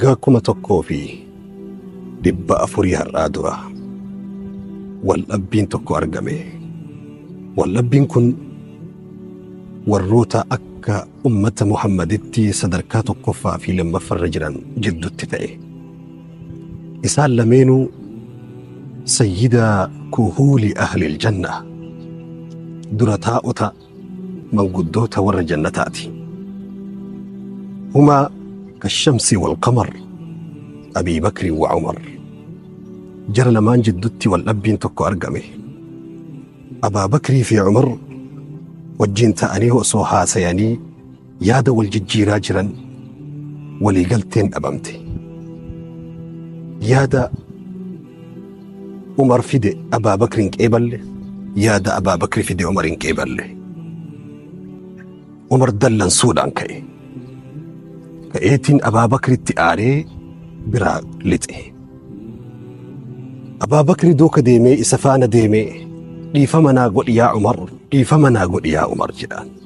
Waggaa kuma tokkoo fi dhibba afurii har'aa dura waldhabbiin tokko argame. Waldhabbiin kun warroota akka ummata Muhammaditti sadarkaa tokkoffaa fi lammaffarra jiran jiddutti ta'e. Isaan lameenuu sayyida kuhuuli ahlil janna dura taa'ota manguddoota warra jannataati. Humaa kashamsi wal qamar Abii Bakri wa Umar. Jara lamaan jiddutti wal dhabbiin tokko argame. Abaa Bakrii fi Umar wajjin ta'anii osoo haasayanii Yaada wal jijjiiraa jiran waliigalteen dhabamte. Yaada Umar fide Abaabakri hin qeeballe, yaada Abaabakri fide Umar hin qeeballe. Umar dallansuudhaan ka'e. Ka'eetiin Abaabakritti aaree biraa lixe. Abaabakri duuka deemee isa faana deemee dhiifama naa godhi yaa Umar, dhiifama naa godhi yaa Umar jedhaan.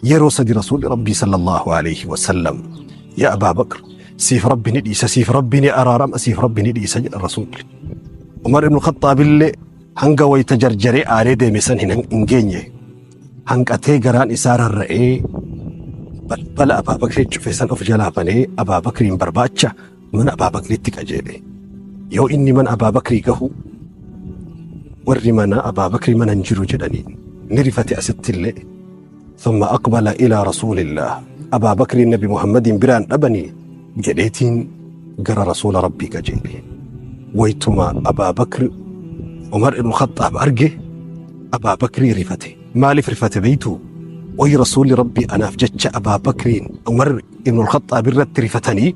Yeroo sadi Rasuulli Rabbii sallallahu alayhi wa sallam yaa Abaa Bakr siif Rabbi ni dhiisa siif Rabbi ni araarama siif Rabbi ni dhiisa jedha Rasuulli. Umar ibn Khaxxaabillee hanga wayita jarjaree aaree deeme san hin hin geenye hanqatee garaan isaa rarra'ee balbala Abaa Bakrii cufe san of jalaa banee Abaa Bakriin barbaacha mana Abaa Bakritti qajeele. Yoo inni mana Abaa Bakrii gahu warri mana Abaa Bakrii mana hin jiru jedhanii ni rifate asitti illee. Thumma aqbala ilaa rasuulillah. Abaa Bakriin Nabi Muhammadiin biraan dhabanii jedheetiin gara rasuula Rabbii qajeele. Waytuma Abaa Bakri Umar ibn Khaxxaab arge Abaa Bakrii rifate. Maaliif rifate beeytuu? Wayi rasuulli Rabbii anaaf jecha Abaa Bakriin Umar ibn Khaxxaab irratti rifatanii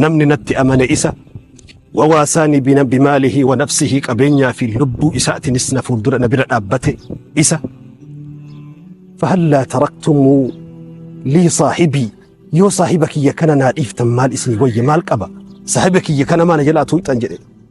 Namni natti amane isa wawaasaani bina bimaalihi wa nafsihi qabeenyaa fi lubbuu isaatinis na fuuldura na bira dhaabbate isa fahallaa taraktumuu lii saahibii yoo saahiba kiyya kana naa dhiiftan maal isinii wayya maal qaba saahiba kiyya kana maa na jalaa tuuxan jedhe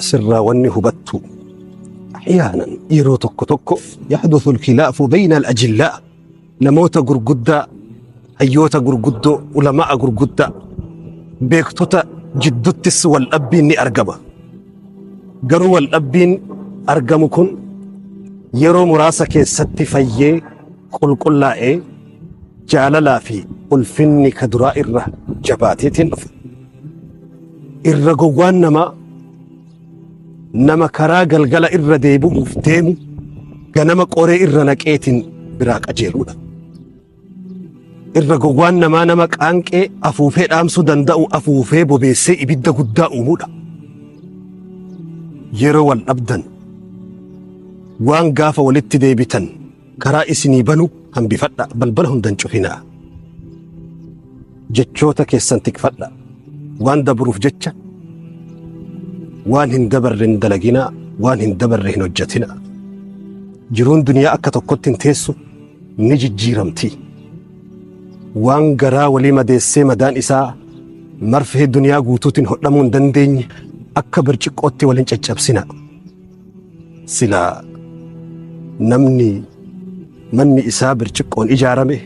asirraa wanni hubattu ahyaanan yeroo tokko tokko yaxdusu alkhilaafu bayna alajillaa namoota gurguddaa hayyoota gurguddoo ulama'a gurguddaa beektota jidduttis wal dhabbiin ni argama garuu wal dhabbiin argamu kun yeroo muraasa keessatti fayyee qulqullaa'ee jaalalaa fi ulfinni ka duraa irra jabaateetiin dhufa irra gowwaan namaa nama karaa galgala irra deebi'uuf deemu ganama qoree irra naqeetiin biraa qajeeludha. Irra gowwaan namaa nama qaanqee afuufee dhaamsuu danda'u afuufee bobeessee ibidda guddaa uumudha. Yeroo wal dhabdan waan gaafa walitti deebitan karaa isinii banu hambifadha balbala hundan cufinaa jechoota keessan tikfadha waan dabruuf jecha waan hin dabarre hin dalaginaa waan hin dabarre hin hojjetinaa jiruun duniyaa akka tokkotti hin teessu ni jijjiiramti waan garaa walii madeessee madaan isaa marfee duniyaa guutuutiin hodhamuu hin dandeenye akka birciqqootti wal hin caccabsina Silaa namni manni isaa birciqqoon ijaarame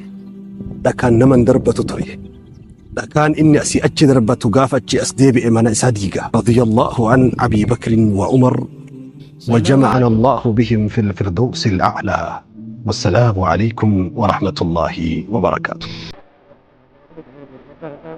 dhakaan nama hin darbatu ture. Dhakaan inni asii achi darbatu gaafa achi as deebi'e mana isaa diiga. Radiyallahu an Abii Bakrin wa Umar wa jama'ana Allahu bihim fil firdawsi al-a'laa. Wassalaamu alaykum wa rahmatullahi wa barakaatuh.